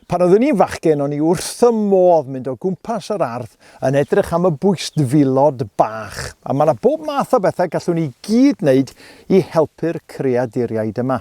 Pan oeddwn i'n fachgen, o'n i wrth y modd mynd o gwmpas yr ardd yn edrych am y bwyst filod bach, a mae yna bob math o bethau gallwn ni gyd wneud i helpu'r creaduriaid yma.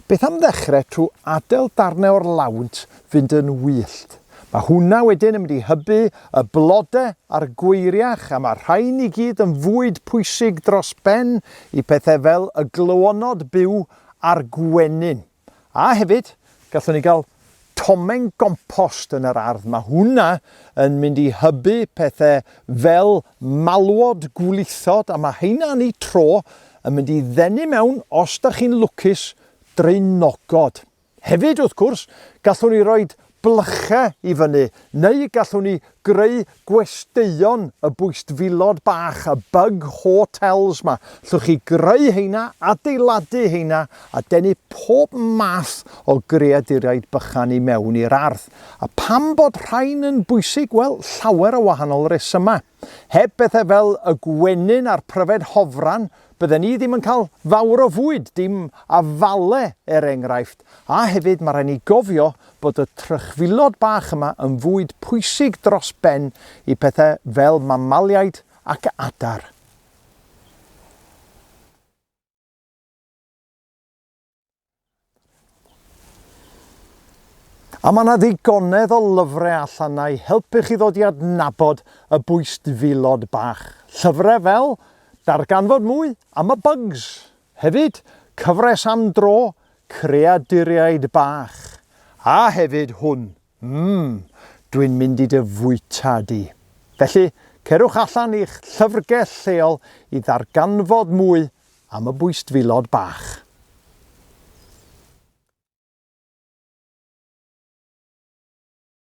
Beth am ddechrau trwy adael darnau o'r lawnt fynd yn wyllt. Mae hwnna wedyn yn mynd i hybu y blodau a'r gweiriach a mae'r rhain i gyd yn fwyd pwysig dros ben i pethau fel y glywonod byw a'r gwenyn. A hefyd, gallwn ni gael tomen gompost yn yr ardd, mae hwnna yn mynd i hybu pethe fel malwod, gwlithod, a mae heina yn eu tro yn mynd i ddenu mewn, os da chi'n lwcus, draenogod. Hefyd, wrth gwrs, gallwn ni roi blychau i fyny, neu gallwn ni Greu gwesteion y bwystfilod bach, y bug hotels 'ma. Llwch chi greu heina, adeiladu heina a denu pob math o greaduriaid bychan i mewn i'r ardd. A pam bod rhain yn bwysig? Wel, llawer o wahanol resymau. Heb bethau fel y gwenyn a'r pryfed hofran, bydden ni ddim yn cael fawr o fwyd, dim a fale er enghraifft, a hefyd mae rhaid ni gofio bod y trychfilod bach yma yn fwyd pwysig dros ben i pethau fel mamaliaid ac adar. A mae yna ddigonedd o lyfrau allan na'i helpu chi ddod i adnabod y bwystfilod bach. Llyfrau fel Darganfod Mwy am y Bugs. Hefyd, cyfres am dro, Creaduriaid Bach. A hefyd hwn, Ym, dwi'n mynd i dy fwyta di. Felly, cerwch allan i'ch llyfrgell lleol i ddarganfod mwy am y bwystfilod bach.